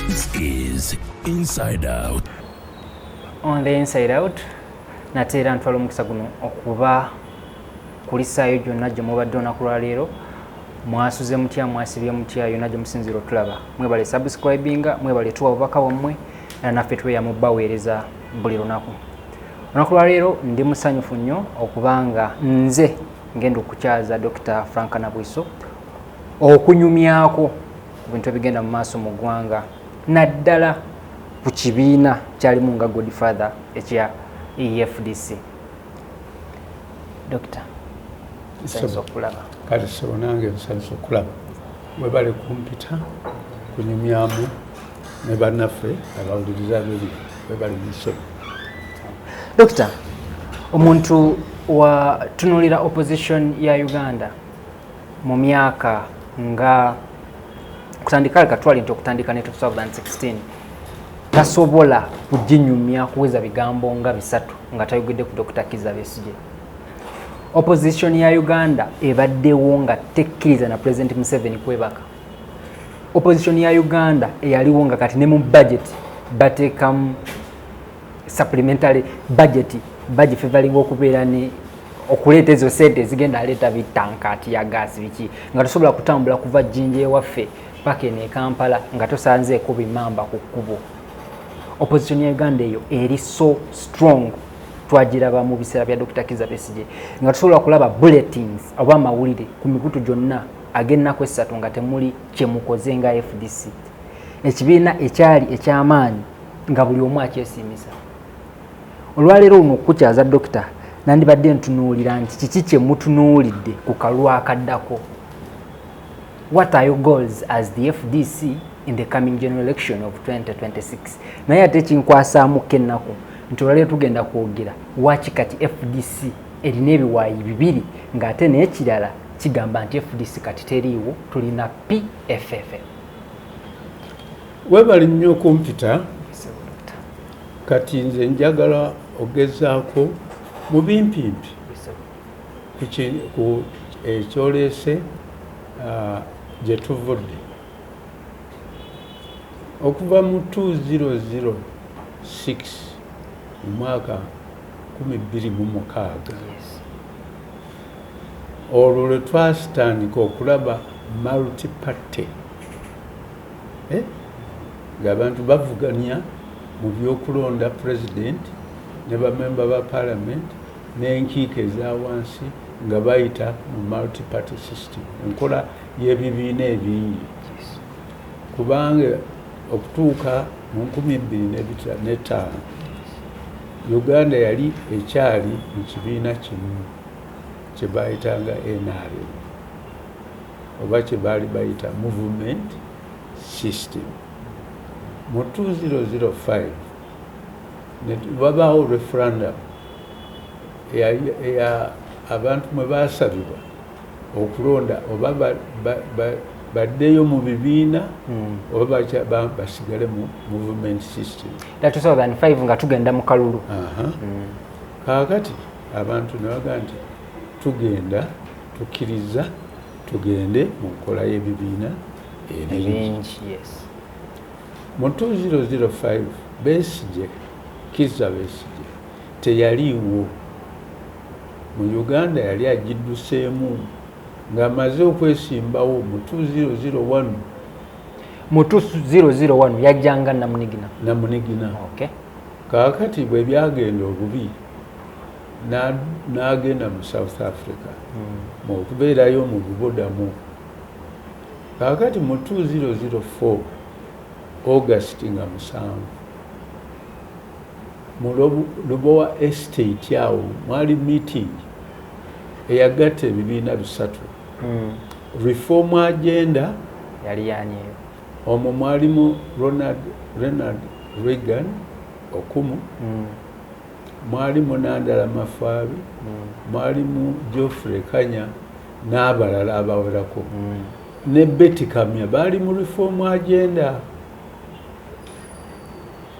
This is Inside Out. On the Inside Out, nateera ntwala omukisa guno okuba kulisaayo gyonna gye mubadde olunaku lwaleero mwasuze mutya mwasibye mutya yonna gye musinziira otulaba mwebale subscribinga mwebale tuwa bubaka bwammwe era naffe tweya mu baweereza buli lunaku olunaku lwaleero ndi musanyufu nnyo okubanga nze ngenda okukyaza Dokita Frank Nabwiso okunyumyako ku bintu ebigenda mu maaso mu ggwanga naddala ku kibiina kyalimu nga good father ekya efdc dokita nsanyusa okulaba kati sebo nange nsanyusa okulaba mwebale kumpita kunyumyamu ne bannaffe abawuliriza biri webali musobi dokita omuntu watunulira opposition ya uganda mu myaka nga kutandika leka twali nti okutandika ne 2016 tasobola kuginyumya kuweza bigambo nga bisatu nga tayogedde ku dokita kiza besigye opposition ya uganda ebaddewo nga tekkiriza na president museveni kwebaka opposition ya uganda eyaliwo nga kati ne mu budget bateekamu supplementary budget budget fevaliwo okubeera ne okuleeta ezo sente ezigenda aleeta bitanka tiya gaasi biki nga tosobola kutambula kuva jjinja ewaffe paka eno ekampala nga tosanzeeko bimamba ku kkubo opposition ya uganda eyo eri so strong twagiraba mu biseera bya dr kiza besige nga tosobola kulaba bulletins oba amawulire ku mikutu gyonna ag'ennaku essatu nga temuli kye mukoze nga fdc ekibiina ekyali eky'amaanyi nga buli omu akyesiimisa olwaleero luno okukukyaza dokita nandibadde ntunuulira nti kiki kye mutunuulidde ku kalwa akaddako what are your goals as the fdc in the coming general election of 2026 naye ate kinkwasaamu ko ennaku nti olwaleero tugenda kwogera waki kati fdc erina ebiwaayi bibiri ng'ate n'ekirala kigamba nti fdc kati teriiwo tulina pff webali nnyo okumpita kati nze njagala ogezaako mu bimpimpi ku ekyoleese ah, gye tuvudde okuva mu 2006 mu mwaka 216 Olwo lwe twasitandika okulaba multi party eh, ng'abantu bavuganya mu by'okulonda president ne bamemba ba parliament n'enkiiko eza wansi nga bayita mu multi party system, enkola y'ebibiina ebingi kubanga okutuuka mu nkumi bbiri n'etaano Uganda yali ekyali mu kibiina kimu kye baayitanga NRM oba kye baali bayita movement system mu 2005 wabaawo referendum eya abantu mwe baasabibwa okulonda oba baddeyo mu bibiina hmm. oba basigale mu movement system nga tugenda mu kalulu hmm. kaakati abantu nebaga nti tugenda tukkiriza tugende mu nkola y'ebibiina ebingi mu 2005 besigye kiza besigye teyaliiwo mu Uganda yali agidduseemu ng'amaze okwesimbawo mu 2001. Mu 2001 yajja nga namunigina? Namunigina. Okay. Kaakati bwe byagenda obubi n'agenda mu South Africa hmm. mu okubeerayo mu bubudamu. Kaakati mu 2004 August nga musanvu Mu Lubowa Estate awo mwali meeting eyagatta ebibiina bisatu mm. reform agenda yali yanyeyo omwo mwalimu Ronald Renald Reagan okumu mm. mwalimu Nandala Mafaabi mm. mwalimu Geoffrey Kanya n'abalala abawerako mm. ne Betty Kamya baali mu reform agenda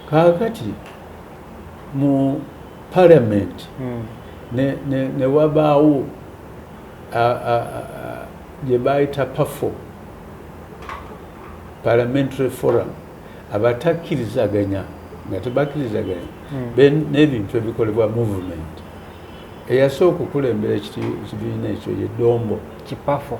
kaakati mu parliament hmm. ne wabaawo gye bayita pafo parliamentary forum abatakkirizaganya nga tebakkirizaganya hmm. n'ebintu ebikolebwa movement eyasooka okukulembera ekibiina ekyo ye dombo kipafo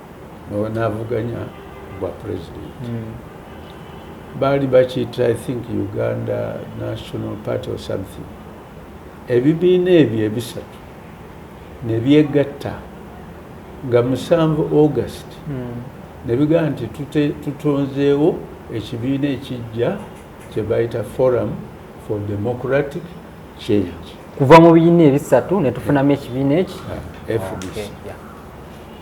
navuganya bwa president mm. baali bakiyita i think uganda national party or something ebibiina ebyo ebisatu nebyegatta nga musanvu august mm. nebigamba nti tutonzeewo ekibiina ekijja kyebayita forum for democratic change kuva mu bibiina ebisatu netufunamu ekibiina eki ah, fdc okay, yeah.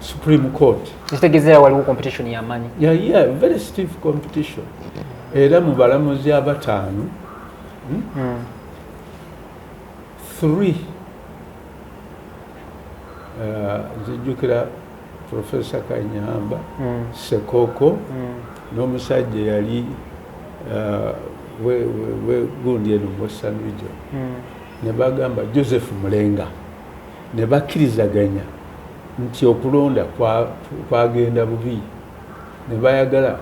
supreme court ekitegezeera waliwo competition yamanyi yeah, yeah, very stiff competition era mu balamuzi abataano hmm? mm. three uh, zijjukira professor kanyamba mm. sekoko mm. n'omusajja yali uh, wegundi eno western region mm. ne bagamba joseph mulenga ne bakkirizaganya nti okulonda kwagenda bubi ne bayagala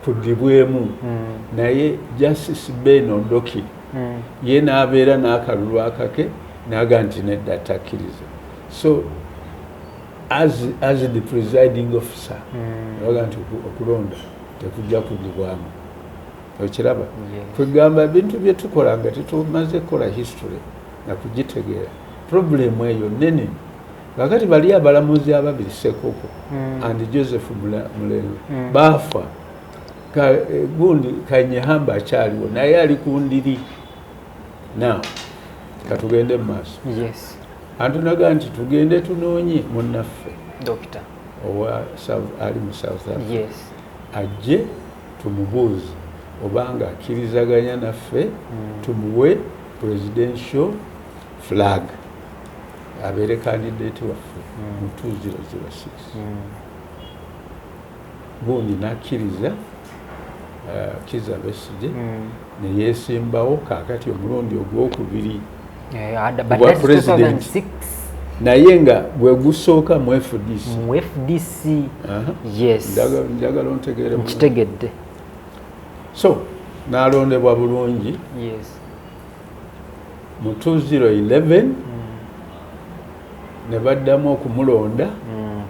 kuddibwemu hmm. naye justice ben odoki hmm. ye n'abeera n'akalulu akake naga nti nedda takkiriza so as, as the presiding officer hmm. aga nti okulonda tekujja kuddibwamu okiraba kwegamba bintu byetukola nga tetumaze kukola history nakugitegeera purobulemu eyo nene kakati bali abalamuzi ababiri sekoko mm. and joseph mulengo mm. baafa eh, gundi kanyehamba akyaliwo naye ali ku ndiri now katugende mu maaso yes. antunaga nti tugende tunoonye munnaffe owa ali mu south africa yes. ajje tumubuuze obanga akkirizaganya naffe mm. tumuwe presidential flag abeere candidate waffe hmm. mu 2006 hmm. gundi nakkiriza uh, kiza besije hmm. neyesimbawo kakati omulundi ogwokubiri eh, kubwa president naye nga gwe gusooka mu fdc mu fdc yes njagala ontegeere nkitegedde so nalondebwa bulungi mu 2011 mm. ne baddamu okumulonda mm,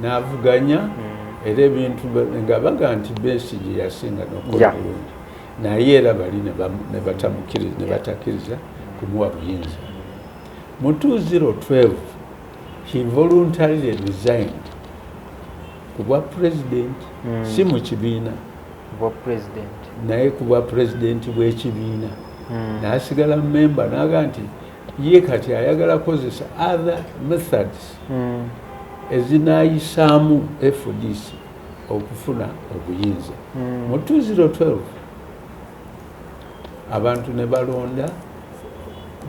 n'avuganya mm. era ebintu nga baga nti besigi yasinga nokukola bulungi naye era bali ne batakiriza kumuwa buyinza mu 2012 he voluntarily resigned ku bwa pulezidenti mm. si mu kibiina naye ku bwa pulezidenti bw'ekibiina mm. n'asigala memba n'aga nti ye kati ayagala kozesa other methods mm. ezinayisaamu fdc okufuna obuyinza mm. mu 2012 abantu ne balonda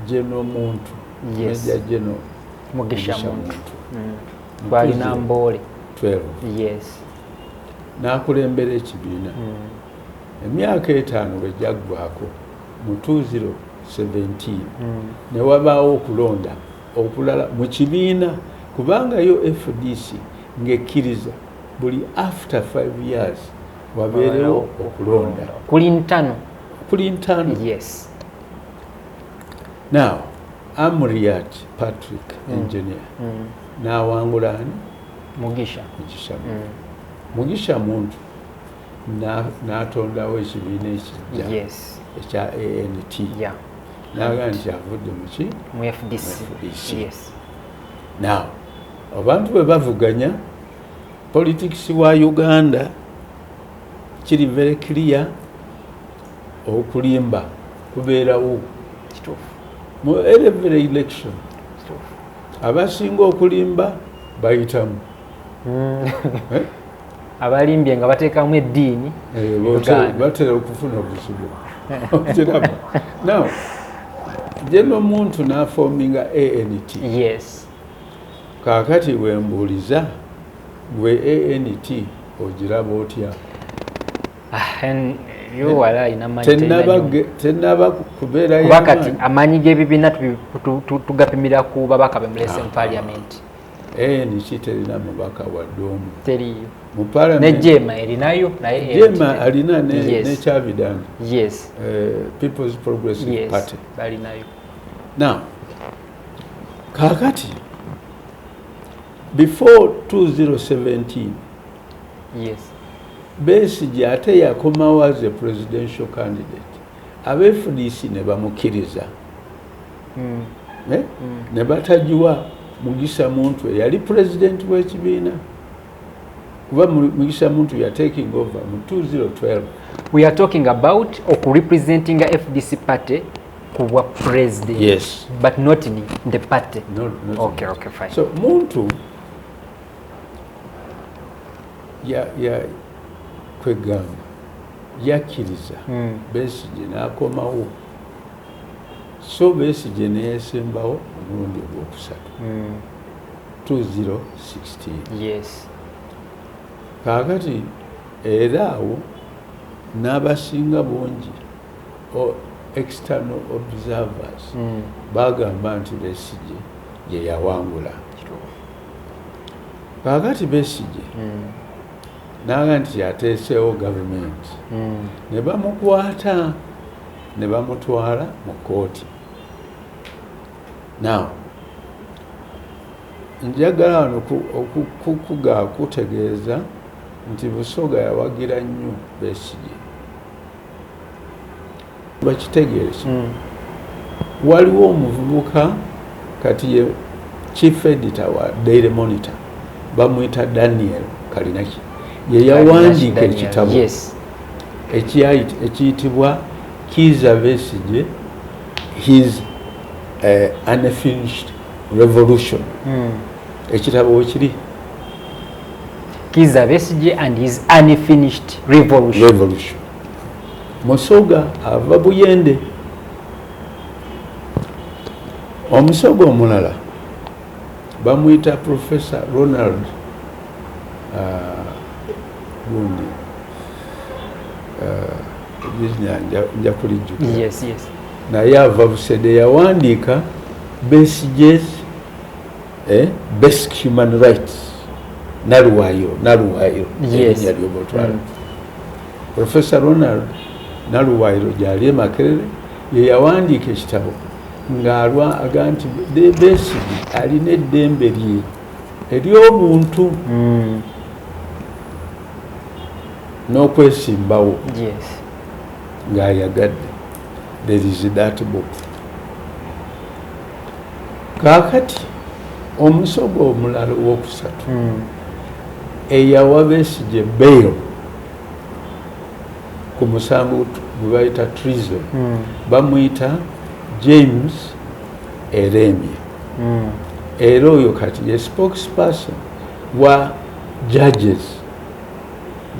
jeno muntu yes. meja jeno mugisha muntu, mugisha muntu. Mm. gwalina mboole n'akulembera ekibiina hmm. emyaka etaano bwe gyaggwako mu 2017 hmm. ne wabaawo okulonda okulala mu kibiina kubanga yo fdc ng'ekkiriza buli after five years wabeerewo okulonda kuli ntano kuli ntano yes now Amuriat Patrick mm. engineer mm. nawangula ani Mugisha Mugisha mm. Mugisha muntu natondawo ekibiina ekijja yes. ekya ANT yeah. naga nti avudde muki mu FDC, FDC. Yes. now abantu bwe bavuganya politics wa Uganda kiri very clear okulimba kubeerawo mu every election abasinga okulimba bayitamu hmm. eh? abalimbye nga bateekamu eddiini eh, batera okufuna obuzibu kiraba now je nomuntu nafominga ant yes kakati wembuuliza gwe ant ogiraba otya tenaba kubeerayokuba kati amaanyi g'ebibiina tugapimira ku babaka be mulese mu ah, parliament anc ah. terina mubaka wadde omu teriyo nejema erinayo nayejema alina nekyavidani yes. Eh, peoples progressive yes. party balinayo now kakati before 2017 besigye ate yakomawo as a presidential candidate abe fdc ne bamukiriza hmm. eh? hmm. ne batagiwa mugisa muntu eyali president wekibiina kuba mugisha muntu ya taking over mu 2012 we are talking about oku representing a fdc party kuwa president yes but not in the party no, not okay okay fine so muntu kwegamba yakkiriza hmm. besigye n'akomawo so besigye neyesembawo omulundi ogwokusatu 2016 hmm. kaakati era awo n'abasinga bungi external observers hmm. bagamba nti besigye yeyawangula kakati besigye hmm. naga nti yateesewo gavumenti hmm. ne bamukwata ne bamutwala mu kooti now njagala wano okukuga kutegeeza nti busoga yawagira nnyo besigye bakitegeeki mm. waliwo omuvubuka kati ye chief editor wa daily monitor bamwita daniel kalinaki yeyawandiika ekitabo ekiyitibwa kiza besige his uh, unfinished revolution mm. ekitabo wekiri Kiza Besigye and his unfinished revolution. Revolution. Musoga ava Buyende. Omusoga omulala bamuyita Professor Ronald uh, gundi uh, nja kulijjuka yes, yes. naye ava Busede yawandiika Besigye's eh, basic human rights naluwayo naluwayo erinya lyoba otwala mm. professor ronald naluwayiro gyali emakerere yeyawandiika ekitabo ng'alwa aga nti besigi alina eddembe lye ery'obuntu mm. n'okwesimbawo ng'ayagadde there is that book kakati omusogo omulala owokusatu hmm. eyawa besigye bail ku musango gwebayita treason hmm. bamuyita james eremye hmm. era oyo kati ye spokesperson wa judges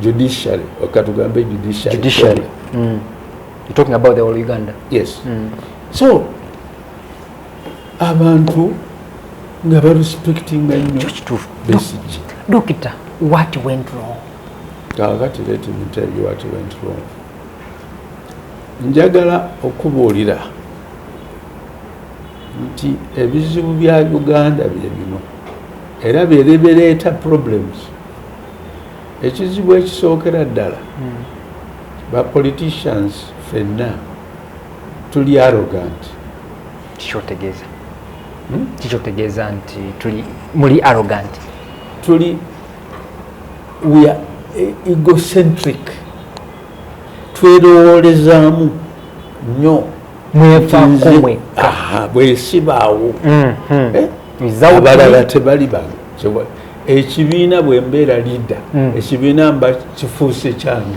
judiciary okatugambe judiciary, judiciary. Mm. talking about the whole uganda yes mm. so abantu nga barespectinga dokita what went wrong kakati let me tell you what went wrong njagala okubuulira nti ebizibu bya uganda bye bino era byerebereeta problems ekizibu ekisookera ddala hmm. ba politicians fenna tuli arrogant kikyotegeeza hmm? kikyotegeeza nti tuli muli arrogant tuli we are e, egocentric twerowoolezaamu nnyo bwesibaawo hmm, hmm. eh? abalala tebali ba ekibiina bwembeera lida ekibiina mba kifuuse kyange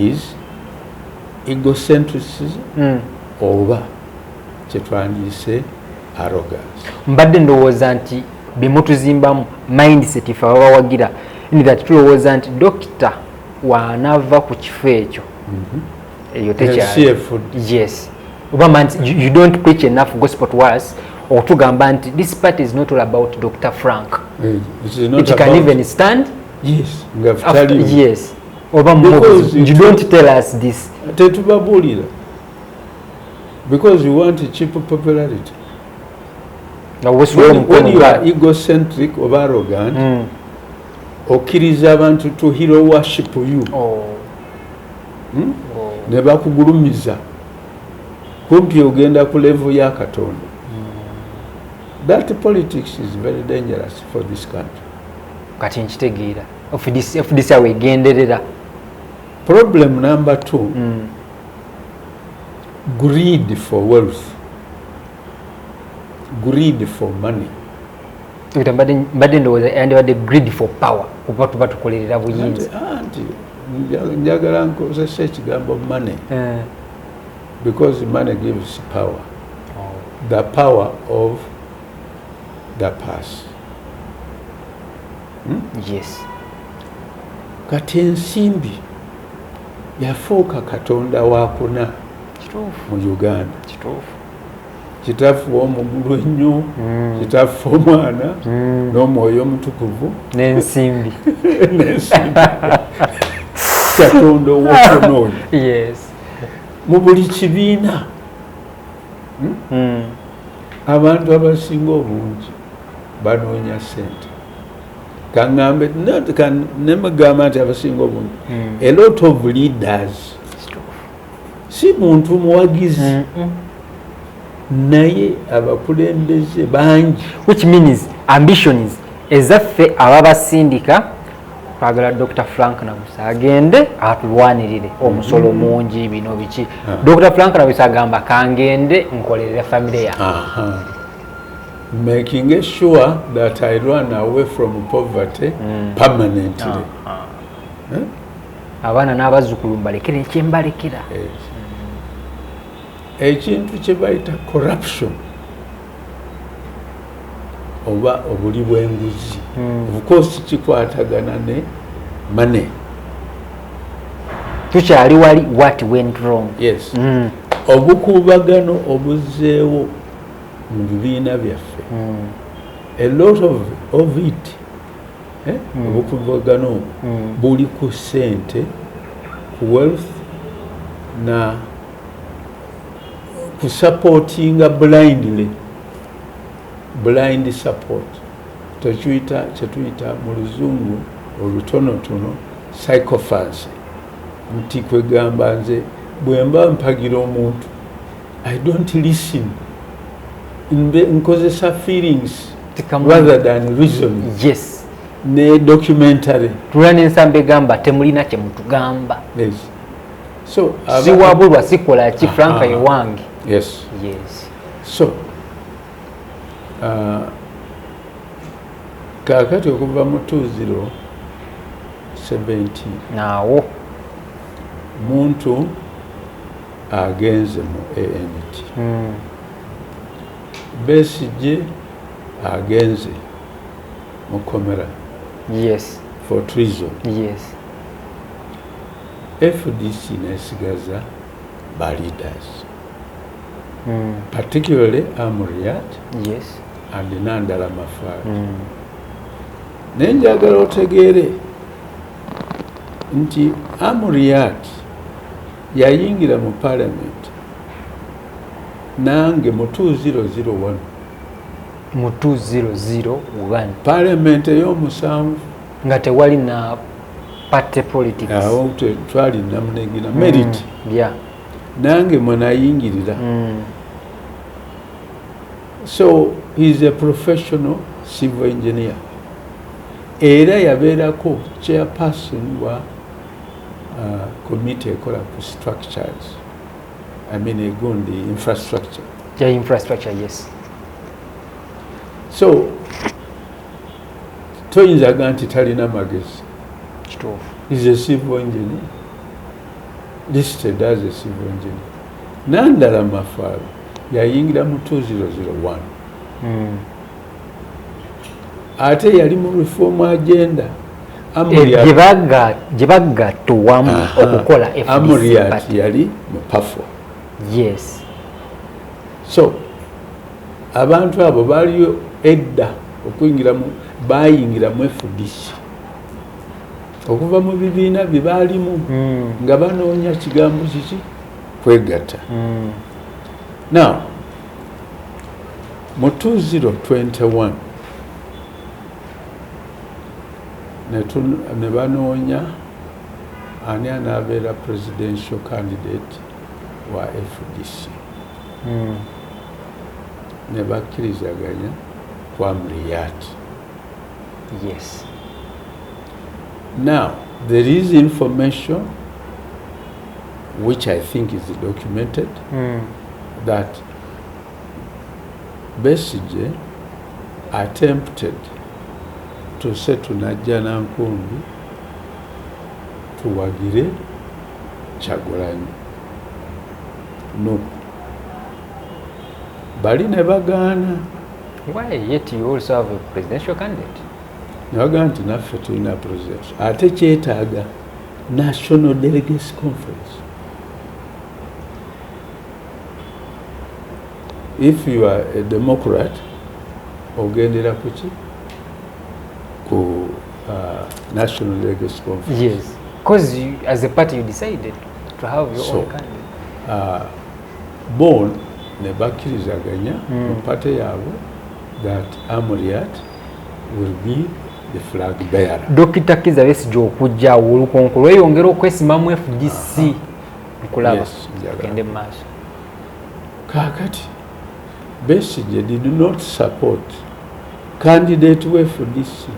is egocentricism mm. oba kyetwandiyise arrogance mbadde ndowooza nti bemutuzimbamu mindset fe ababawagira that tulowooza nti dokita wanava ku kifo ekyo mhm. eyo tekyayes oba man you don't preach enough gospel to us okutugamba nti this part is not all about dr frank eh, it can even stand yes, yes. oba tetubabulira because you want cheap popularity when, when you are egocentric oba arrogant mm. okkiriza abantu to hero worship you oh. hmm? oh. ne bakugulumiza kumpi ogenda ku level ya katonda mm. that politics is very dangerous for this country kati nkitegeera fdc awo egenderera problem number t mm. greed for wealth greed for money mbadde ndowooza yandibadde greed for power kuba tuba tukolerera buyinza njagala nkozesa ekigambo money eh. because money gives power oh. the power of the pass hmm? yes kati ensimbi yafuuka katonda wakuna mu uganda kituufu kitaffe omugulu ennyo hmm. kitaffe omwana hmm. n'omwoyo omutukuvu n'ensimbi n'ensimbi katonda ow'okunoonyo mu buli kibiina hmm? Hmm. abantu abasinga obungi banoonya sente kaŋambe nemugamba nti abasinga obungi hmm. a lot of leaders si muntu muwagizi naye abakulembeze bangi which means ambitions ezaffe ababasindika twagala dr frank nabusa agende atulwanirire omusolo mm-hmm. mungi bino biki ah. dr frank nabusa agamba kangende nkolerere famire ya making a sure that i run away from poverty mm. permanently ah, ah. Eh? abaana n'abazzukulu mbalekera ekyembalekera ekintu kyebayita corruption oba obuli bwenguzi hmm. ofcourse kikwatagana ne mane tukyali wali wat went wrong yes mm. obukuubagano obuzeewo mu bibiina byaffe mm. a lot of, of it eh? mm. obukuubagano obu mm. buli ku sente ku wealth na kusupportinga blindly blind support tekiyita kyetuyita mu luzungu olutonotono psychophancy nti kwegamba nze bwemba mpagira omuntu i don't listen nkozesa feelings rather than reason yes ne documentary tulina nensamba egamba temulina kyemutugamba yes. so siwabulwa sikola ki franka ye wange yes yes so uh, kakati okuva mu 2070 naawo muntu agenze mu ant hmm. besigye agenze mu komera yes for treason yes fdc nesigaza ba leaders mm. particularly amuriat yes. and nandala mafar mm. naye njagala otegeere nti amuriat yayingira mu parliament nange mu 2001 mu 2001 parliament eyomusanvu nga tewali na party politics awo twali namunegina mm. merit mm. yeah nange mwenayingirira mm. so he is a professional civil engineer era yabeerako chairperson wa uh, committee ekola ku structures i mean egundi infrastructure yeah, infrastructure yes so toyinza ga nti talina magezi is a civil engineer listed as a civil engineer nandala mafaalo yayingira mu 2001 hmm. ate yali mu reform agenda gyebagatta owamu okukola amuriat yali mu pafo yes so Abantu abo baaliyo edda okuyingira mu baayingira mu FDC okuva mu bibiina bye baalimu hmm. nga banoonya kigambo kiki kwegatta. Hmm. Now mu 2021 ne banoonya ani anaabeera presidential candidate wa FDC. hmm. nebakkirizaganya ku amriyaati yes now there is information which i think is documented mm. that besige attempted to say to najjanankumbi tuwagire kyagulanyi Nup bali ne bagaana ne bagamba nti naffe tulina president ate kyetaaga national delegates conference if you are a democrat ogendera kuki ku uh, national delegates conference yes. Because as a party you decided to have your so, own candidate uh, bon ne bakkirizaganya mm. mu pate yaabwe that amuriat will be the flag bearer dokita kiza besigye okujja awo olukonko lweyongera okwesimamu fdc nkulaba gende mu maaso kaakati besigye did not support candidate we fdc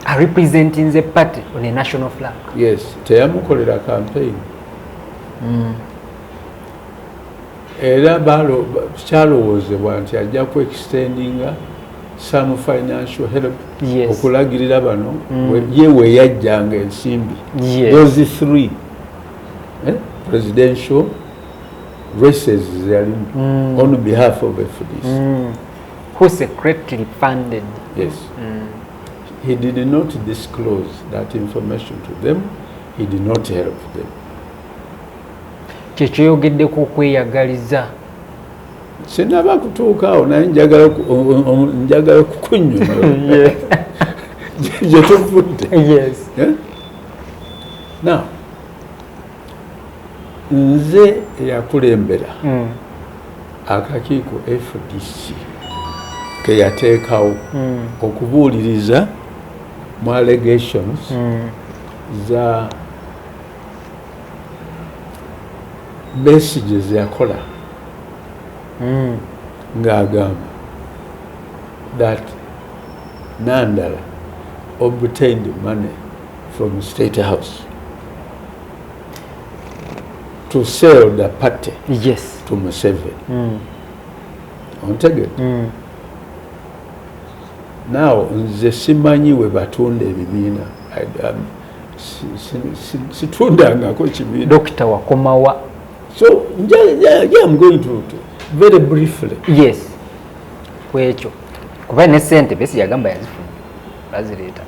a representing the party on a national flag yes teyamukolera campaign mm. era kyalowoozebwa nti ajja ku extendinga some financial help yes. okulagirira bano mm. ye weyajjanga ensimbi yes. those three eh? presidential races zalimu mm. on behalf of fdc mm. who secretly funded yes mm. he did not disclose that information to them he did not help them kyekyoyogeddeko okweyagaliza sinaba kutuukaawo naye njagala okukunyonyola gyetuvudde eh? now nze eyakulembera mm. akakiiko fdc keyateekawo mm. okubuuliriza mu allegations mm. za besige zeyakola mm. ng'agamba that nandala obtained money from state house to sell the party yes. to Museven. Mm. Ontege? Mm. Now, nze simanyi we batunda ebibiina. Um, situndangako ekibiina. Dokita wakomawa. So, nja, nja, nja, I'm going to, to very briefly. Yes. Kwekyo. Kuba ne sente besi yagamba yazifuna. bazireeta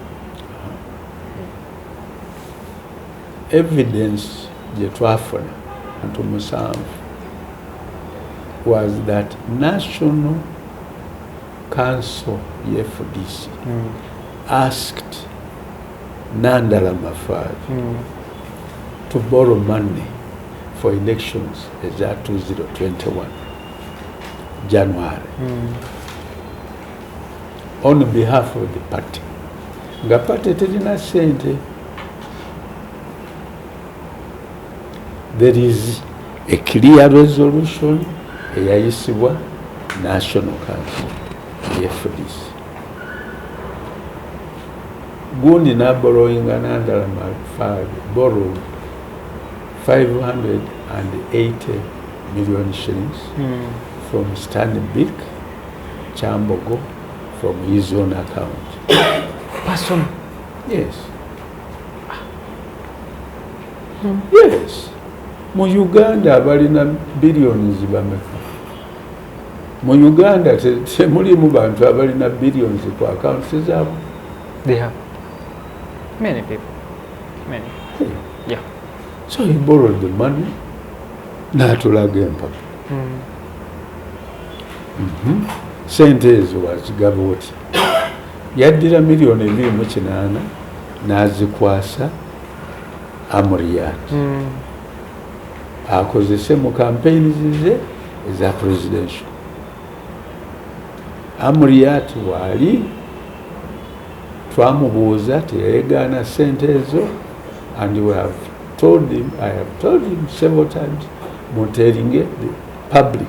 evidence gye twafuna ntu musanvu was that national council ye fdc mm. asked nandala mafaari mm. to borrow money for elections eza 2021 january mm. on behalf of the party nga party terina sente there is a clear resolution eyayisibwa national council yefdc gundi naborowinga nandala mafaabi borrow 580 million shillings mm. from stanbic Kyambogo from his own account. Person? Yes. Hmm. Yes. Mu Uganda abalina billions bameka. Mu Uganda temulimu bantu abalina billions ku accounts zabo. They have many people. Many. Hey. Yeah. So he borrowed the money. Natulaga empaka. Mm. mhm. sente ezo wazigaba oti yaddira miliyoni ebiri mu kinaana n'azikwasa amuriyaati hmm. akozese mu kampeyini zize eza presidential amuriyaati waali twamubuuza teyayegaana sente ezo and we have told him i have told him several times munteringe the public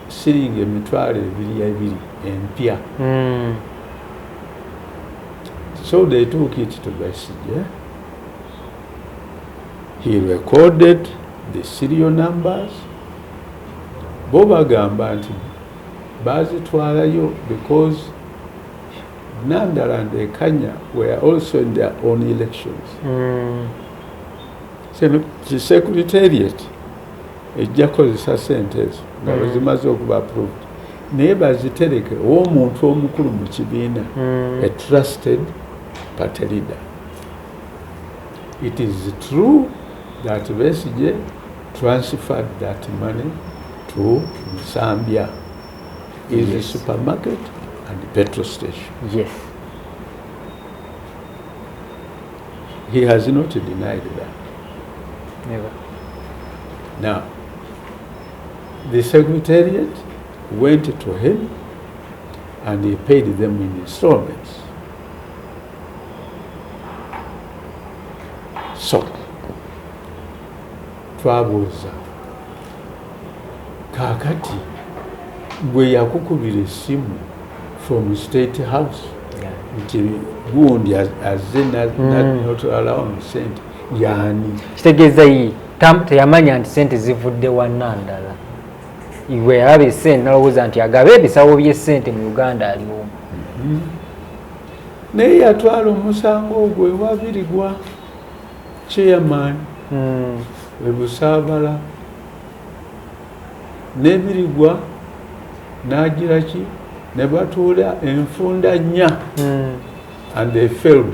shilingi emitwalo ebiri ebiri empya mm. so they took it to Besigye he recorded the serial numbers bo bagamba nti bazitwalayo because Nandala and Ekanya were also in their own elections mm. so the secretariat Ejja kozesa sente ezo nga mm. wezimaze okuba approved naye bazitereke owomuntu omukulu mu kibiina mm. a trusted party leader it is true that besije transferred that money to nsambia is yes. a supermarket and petrol station yes he has not denied that Never. Now, the secretariat went to him and he paid them in installments. So, twabuuza kaakati gwe yakukubira essimu from state house nti gundi azze natwalawo mu sente yani kitegeeza yi teyamanya nti sente zivudde wanna ndala iwe yalaba esente nalowooza nti agabe ebisawo byesente mu uganda aliomu mhm. naye yatwala omusango ogwo ewabirigwa chairman hmm. webusaabala nebirigwa nagiraki nebatuula enfunda nnya hmm. and they failed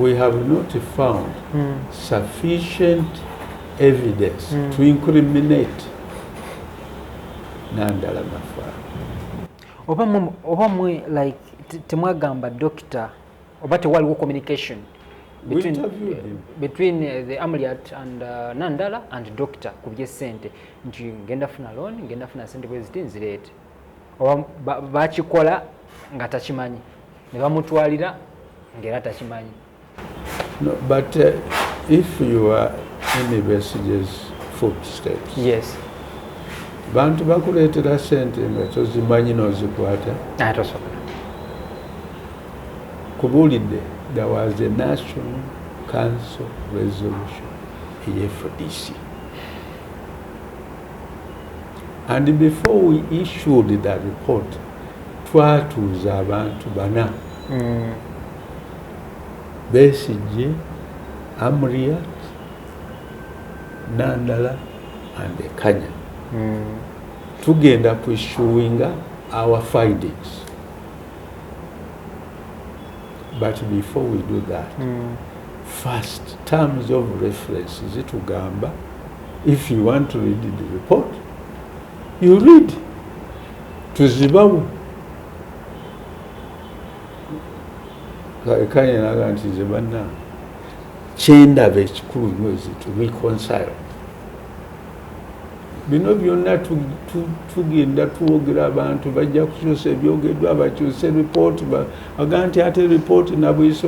we have not found mm. sufficient evidence mm. to incriminate nandala mafa oba mwe like temwagamba doctor oba tewaliwo communication between, uh, between uh, the amliat and uh, nandala and doctor ku byesente nti ngenda funa loan ngenda funa sente bweziti nzireete bakikola nga takimanyi ne bamutwalira ngaera takimanyi no, but uh, if you are universities footsteps yes bantu bakuleetera sente nga tozimanyi nozikwata atosobola kubuulidde there was a national council resolution eyefdc and before we issued the report twatuuza abantu bana mm. besigye amriat nandala and kanya mm. tugenda ku issuinga our findings but before we do that mm. first terms of reference zitugamba if you want to read the report you read tuzibawo kayinaga nti nze banna kyendaba ekikulu nyo is to reconcile bino byonna tugenda twogera abantu bajja kukyusa ebyogeddwa bakyuse ripooti aga nti ate ripooti nabuyise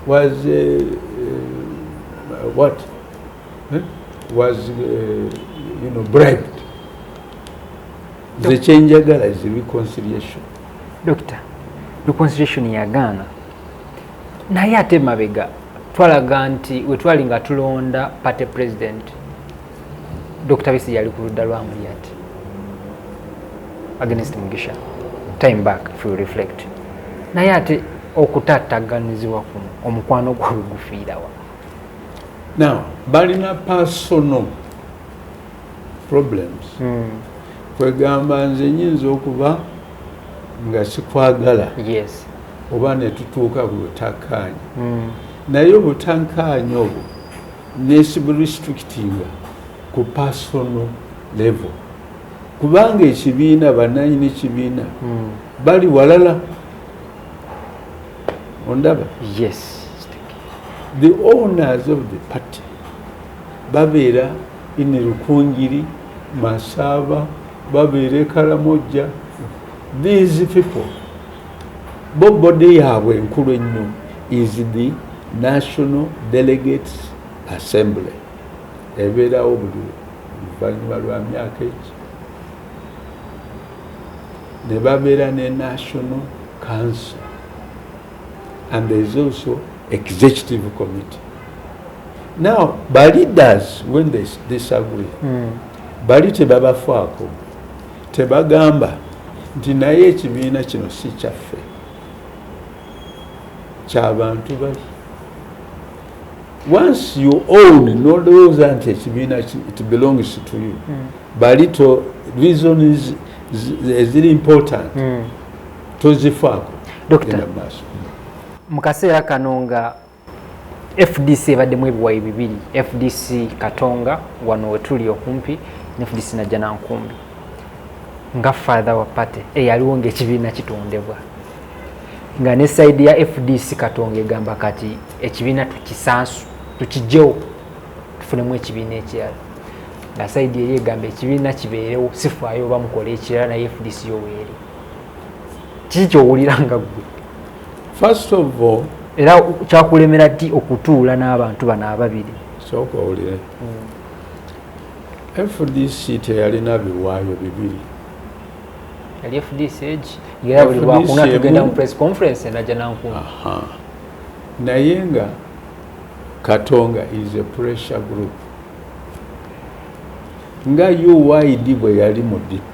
was eh, what eh, was eh, you know bribed nze kyenjagala is reconciliation doctor reconciliation yagaana naye ate mabega twalaga nti wetwali nga tulonda party president dr bisi yali ku ludda lwa muliyati against mugisha time back if you reflect naye ate okutataganizibwa kuno omukwano gwawe gufiirawa now balina personal problems mm. kwegamba nze nyinza okuba nga sikwagala yes. oba netutuuka ku butakkaanya mm. naye obutankaanya obwo nesiburestrictinga ku personal level kubanga ekibiina bananyini kibiina mm. bali walala ondaba yes the owners of the party babeera Ine Rukungiri, Masaaba, babeera e Karamojja. These people bo body yaabwe enkulu ennyo is the National Delegates Assembly ebeerawo buli luvannyuma lwa myaka eki ne babeera ne National Council and there is also executive committee. Now, by leaders, when they disagree, mm. bali tebabafaako tebagamba nti naye ekibiina kino si kyaffe kyabantu bali once you own nolowooza nti ekibiina it belongs to you mm. bali to reasons eziri important mm. tozifaako genda maaso mu kaseera kano nga fdc ebaddemu ebiwayi bibiri fdc katonga wano wetuli okumpi ne fdc najja nankumbi nga father wa party eyaliwo ngaekibiina kitondebwa nga ne saidi ya fdc katonga egamba kati ekibiina tukisansu tukijjewo tufunemu ekibiina ekirala nga saidi eri egamba ekibiina kibeerewo sifaayo oba mukole ekirala naye fdc yoweeri kiki kyowulira nga gwe first of all era kyakulemera ti okutuula n'abantu bano ababiri sooka owulire hmm. fdc teyalina biwaayo bibiri yali fdc egi era buli lwakuna tugenda mu press conference naja nankuma naye nga katonga is a pressure group nga uid bwe yali mu dp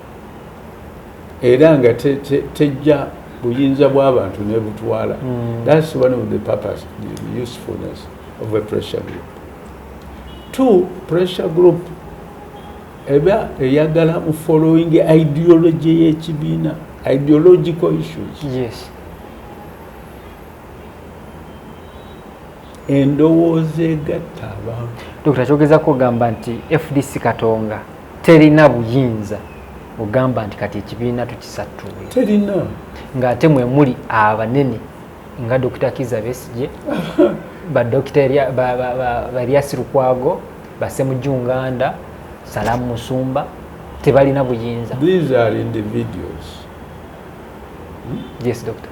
era nga tejja buyinza bw'abantu nebutwala hmm. that's one of the purpose the usefulness of a pressure group two pressure group eba eyagala mu following ideology y'ekibiina ideological issues yes endowooza egatta abantu dokita kyogezako ogamba nti fdc katonga terina buyinza ogamba nti kati ekibiina tukisattule terina ng'ate mwe muli abanene nga dokita kiza besigye badokita baryasi lukwago basemujunganda salamu musumba tebalina buyinza these are individuals yes doctor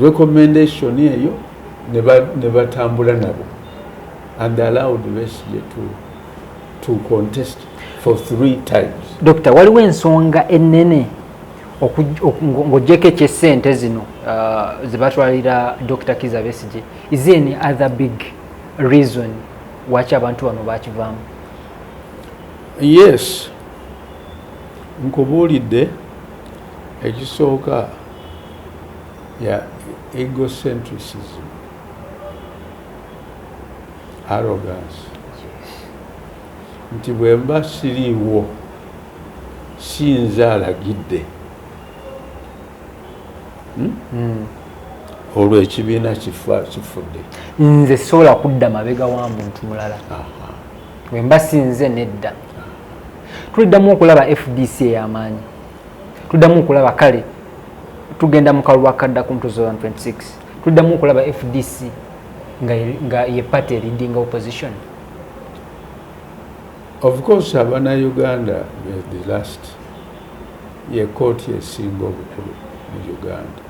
recommendation eyo ne batambula nabo and allowed Besigye to, to contest for three times. Dokita, waliwo ensonga ennene ng'ogyeko eky'essente zino uh, ze batwalira Dokita Kiza Besigye, is there any other big reason lwaki abantu bano bakivaamu? Yes, nkubuulidde Ekisooka, ya egocentrisism, arrogance, nti bwemba siriiwo sinza alagidde hmm? Hmm. olwo ekibiina kifudde nze sobola kudda mabega wa muntu mulala wemba sinze nedda tuliddamu okulaba fdc eyamaanyi tuddamu okulaba kale tugenda mu kalulu akadda ku mutuzo 126 tuddamu okulaba fdc nga ye party eridinga opposition of course abana uganda the last ye kooti esinga obukulu mu uganda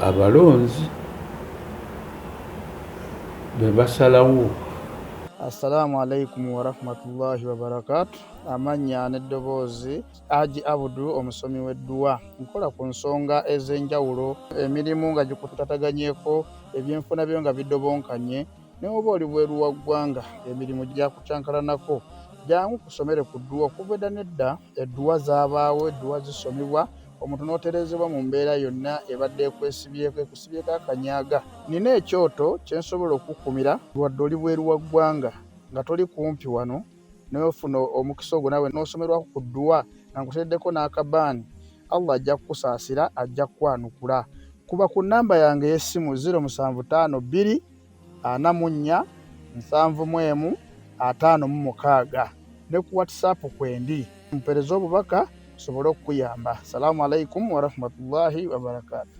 abalonzi bebasalawo assalamu alaikum warahmatullahi wabarakatu amannya n'eddoboozi aji abudu omusomi w'edduwa nkola ku nsonga ez'enjawulo emirimu nga gikutataganyeko ebyenfuna byo nga bidobonkanye newoba oli bweru wa ggwanga emirimu gyakucankalanako jangu kusomere ku dduwa okuva edda nedda edduwa zabaawo edduwa zisomebwa omuntu n'otereezebwa mu mbeera yonna ebadde ekwesibyeko ekusibyeko akanyaaga nina ekyoto kyensobola okukukumira wadde oli bweru wa ggwanga nga toli kumpi wano naye ofuna omukisa ogwo nawe n'osomerwako ku dduwa nga nkuteeddeko n'akabaani allah ajja kukusaasira ajja kukwanukula kuba ku nnamba yange ey'essimu 0752 44 71 56 ne ku whatsapp kwendi mpereza obubaka tusobole okukuyamba salaamu alaikum warahmatullahi wabarakatu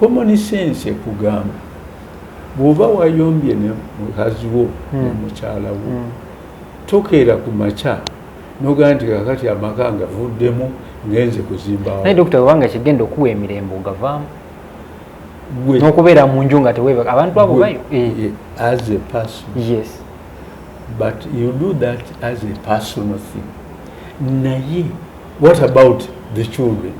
common sense ekugamba bwoba wayombye ne mukazi wo hmm. ne mukyala wo hmm. tokeera ku makya nogamba nti kakati amaka ngavuddemu ngenze kuzimbawo naye dokita webanga kigenda okuwa emirembe ogavaamu nokubeera mu nju nga tewe abantu abo bayo eh. Eh, as a person yes but you do that as a personal thing naye what about the children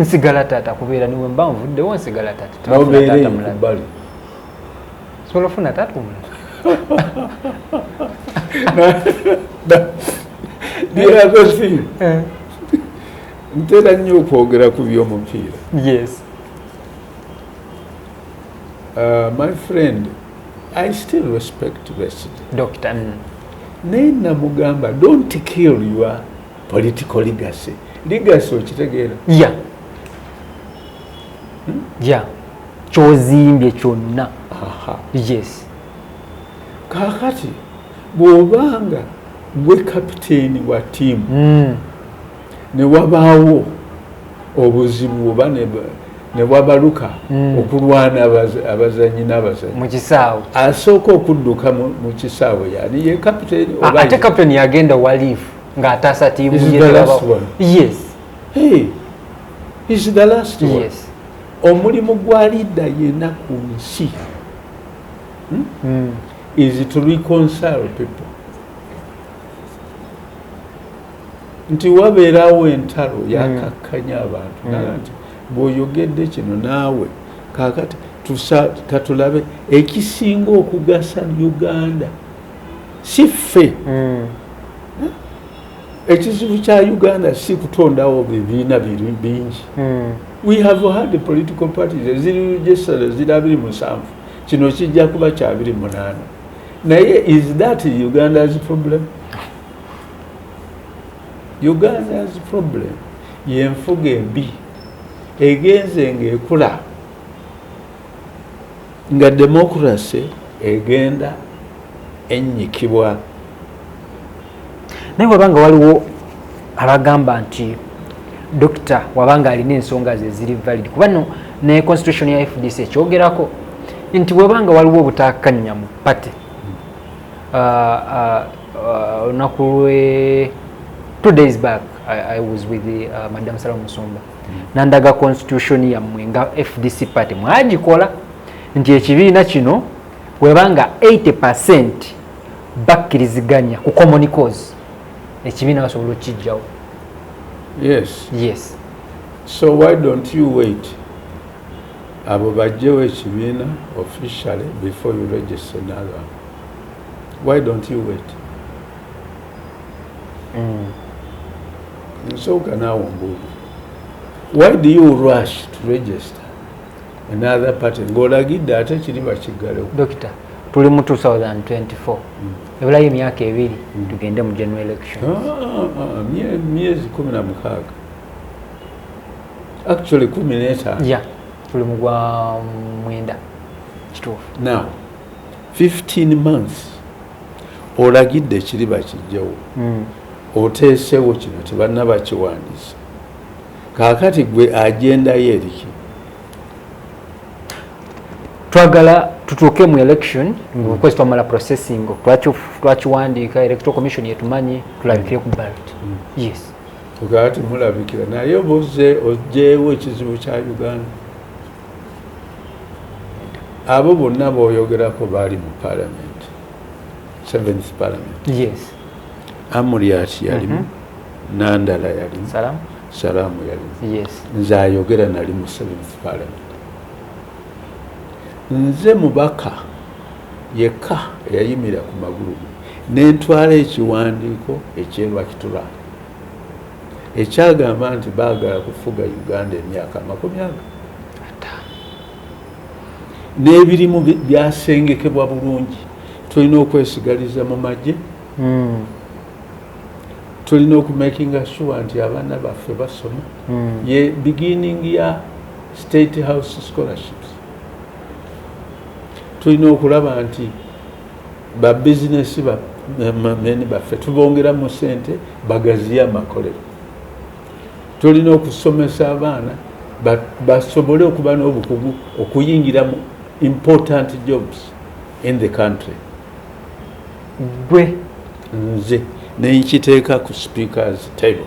nsigala taata kubeera niwe mba nvuddewo nsigala taataobeereebbali sobola ofuna taata omulala eh. ntera nnyo okwogera ku byomupiira yes uh, my friend i still respect resd doctor mm. naye namugamba don't kill your political legacy legacy okitegeera ya hmm? ya kyozimbye kyonna yes kakati bwobanga gwe kapiteeni wa tiimu hmm. ne wabaawo obuzibu oba ne wabaluka hmm. okulwana abazanyi n'abazanyi mu kisaawe asooka okudduka mu kisaawe yani ye kapiteeni ate kapiteeni yagenda waliifu ng'ataasa tiimu ye tebaba yes hey, is the last one yes. omulimu gwa liida yena ku nsi hmm? mm. is to reconcile people nti wabeerawo entalo hmm. yakakkanya abantu mm. naga nti bw'oyogedde kino naawe kakati katulabe ekisinga okugasa uganda si ffe mm. ekizibu kya uganda si kutondawo bibiina bingi mm. we have had political parties eziri registered ziri abiri musanvu kino kijja kuba kyabiri munaana naye is that uganda's problem uganda's problem yenfuga embi egenze ngaekula nga demokurase egenda ennyikibwa naye wabanga waliwo abagamba nti dokita wabanga alina ensonga ze ziri valid kuba no ne constitution ya fdc ekyogerako nti wabanga waliwo obutakanya mu pate uh, uh, uh, olunaku lwe two days back i was with the, uh, madam sala musumba nandaga constitution yammwe nga fdc party mwagikola nti ekibiina kino webanga 80 percent bakkiriziganya ku common cause ekibiina basobola okukijjawo yes yes so why don't you wait abo bajjewo ekibiina officially before you register nalwa why don't you wait Mm. Nsooka naawe ombuuza why do you rush to register another party ng'olagidde ate kiri bakiggalewo dokita tuli mu 2024 mm. ebulayo emyaka ebiri mm. tugende mu general election ah, ah, ah, myezi kumi na mukaaga actually kumi n'etaano ya tuli mu gwa mwenda kituufu now 15 months olagidde kiri bakijjawo hmm. oteesewo kino tebanna bakiwandiisa kaakati gwe agendayo eriki twagala tutuuke mu election ngaokukwezi hmm. twamala processing twakiwandiika electoral commission yetumanyi tulabikire ku ballot hmm. yes ogati mulabikira naye obuze ojewo ekizibu kya uganda abo bonna boyogerako baali mu parliament seventh parliament yes amuriat yalimu mm -hmm. nandala yalimu Salam. salamu yalimu yes. nze ayogera nali mu seventh parliament nze mubaka yekka eyayimira ku magulu nentwala ekiwandiiko ekyelwakitura ekyagamba nti baagala kufuga uganda emyaka amakumi ago n'ebirimu byasengekebwa bulungi tulina okwesigaliza mu magye hmm. tulina okumakinga sure nti abaana baffe basoma hmm. ye beginning ya state house scholarships tulina okulaba nti Ba bizinesi ba meni baffe tubongeramu sente bagaziye amakolero. Tulina okusomesa abaana basobole okuba n'obukugu okuyingira mu important jobs in the country. Gwe nze nenkiteeka ku speakers table.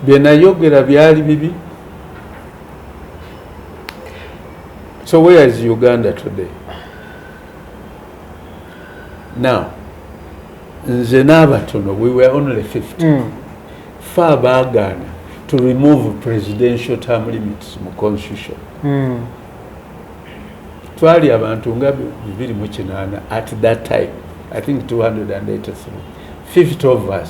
Byenayogera byali bibi So where is Uganda today? Now, nze n'abatono we were only 50 mm. fe abaagaana to remove presidential term limits mu constitution mm. twali abantu nga bibiri mu kinaana at that time i think 283 50 of us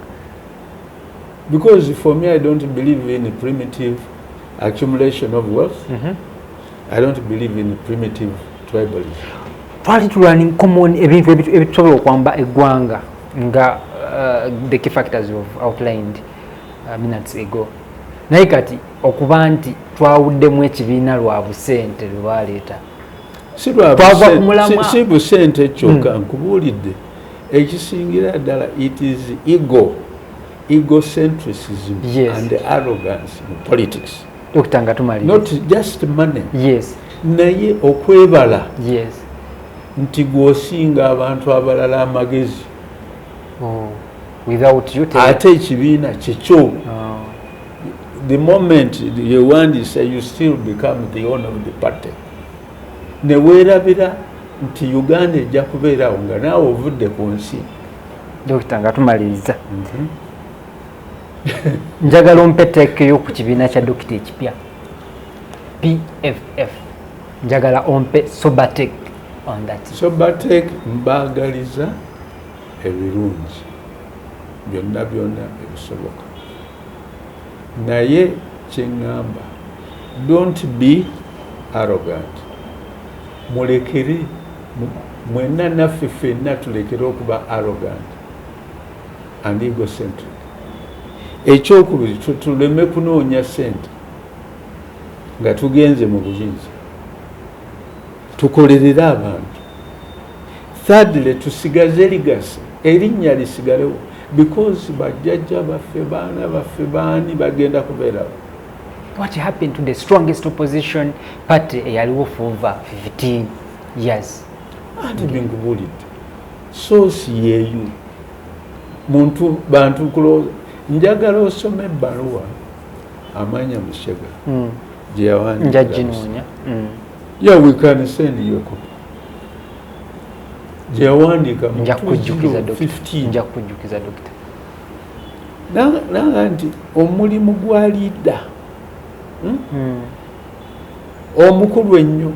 because for me i don't believe in primitive accumulation of wealth mm -hmm. i don't believe in primitive tribalism twali tulwani common ebintu ebitusobola okwamba eggwanga nga uh, the key factors of outlined uh, minutes ago naye kati okuba nti twawuddemu ekibiina lwa busente lwe baleeta si busente kyokka hmm. nkubuulidde Ekisingira ddala it is ego egocentrism yes. and arrogance in politics Dokita nga tumali not just money yes naye okwebala yes nti gwosinga abantu abalala amagezi oh. without you ate ekibiina kyekyo oh. the moment you want to say you still become the owner of the party ne weerabira nti uganda ejja kubeerawo nga naawe ovudde ku nsi dokita nga tumaliriza mhm. njagala ompeteekeyo ku kibiina kya dokita ekipya pff njagala ompe sobatek on that sobatek mbaagaliza ebirungi byonna byonna ebisoboka naye kyeŋŋamba don't be arrogant mulekere mwenna naffe fenna tulekere okuba arrogant and egocentric ekyokubiri tuleme kunoonya sente nga tugenze mu buyinza tukolerere abantu Thirdly, tusigaze legacy, erinnya lisigalewo because bajjajja baffe baana baffe baani bagenda kubeerawo. What happened to the strongest opposition party eyaliwo for over 15 years? Anti binkubuulidde soosi yeeyu muntu bantu kulowooza njagala osome ebbaluwa amanya mushega mm. gye yawandiika. Njajinoonya. Mm. Yeah, we can send you a copy. gyeyawandiika nja kujjukiza dokita nanga nti omulimu gwa liida hmm? hmm. omukulu ennyo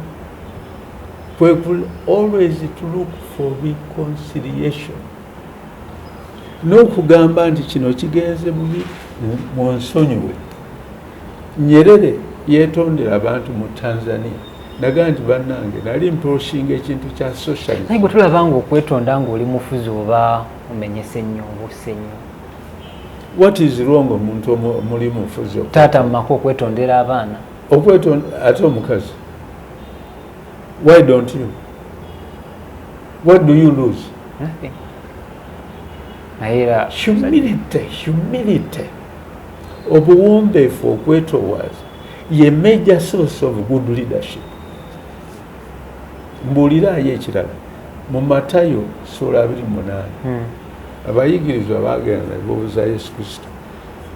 kwe always to look for reconciliation n'okugamba nti kino kigenze bubi mu nsonyiwe Nyerere yetondera abantu mu Tanzania naga nti banange nali mproshinga ekintu kya socialism. Naye tulaba nga okwetonda nga oli mufuzi oba omenyese nnyo obuse nnyo. What is wrong omuntu omuli mufuzi? Taata mu maka okwetondera abaana. Okwetonda ate omukazi. Why don't you? What do you lose? Nothing. Naye era humility, humility. obuwombeefu okwetowaaza ye major source of good leadership mbuuliraayo ekirala mu matayo sula abiri munaana hmm. abayigirizwa bagenda nebabuuza yesu kristo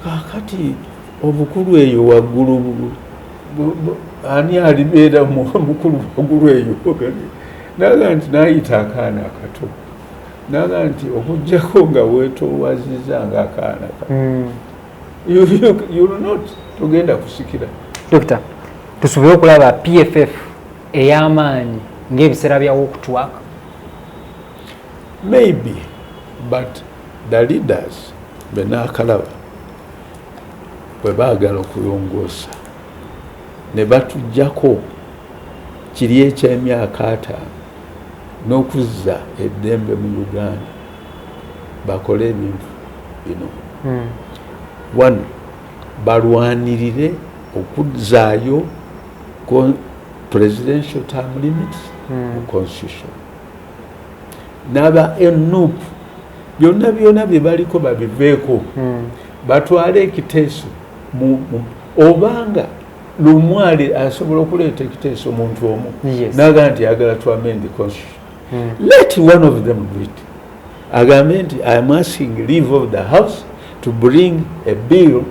kakati obukulu eyo waggulu ani alibeera mukulu waggulu eyo naga nti nayita akaana akato naga nti okujjako nga wetowazizza nga akaana ka hmm. togenda kusikira dokita tusubire okulaba pff ey'amaanyi ng'ebiseera byawokutwak maybe but the leaders benaakalaba bwe baagala okulongoosa ne batugyako kiri eky'emyaka ataano n'okuzza eddembe mu uganda bakole ebintu bino hmm. one balwanirire okuzzaayo presidential term limit hmm. mu constitution n'aba nup byonna byona bye baliko babiveeko hmm. batwale ekiteeso obanga lumwali asobola okuleeta ekiteeso omuntu omu naga nti agala to amend the constitution hmm. let one of them do it agambe nti i am asking leave of the house to bring a bill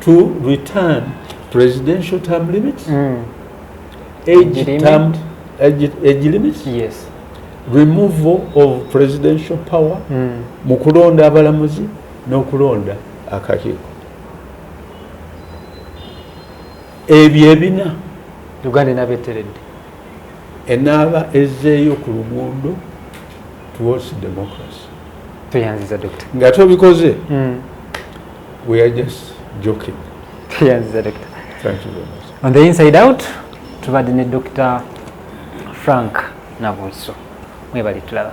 to return presidential term limits mm. age, age term age, age limits yes removal of presidential power hmm. mu mm. kulonda abalamuzi n'okulonda akakiiko ebyo ebina uganda enaaba eteredde enaaba ezzeeyo ku luguudo towards democracy tweyanziza dokita nga tobikoze hmm. we are just joking tweyanziza dokita thank you very much on the inside out tubadde ne dokita frank nabuliso mwebali tulaba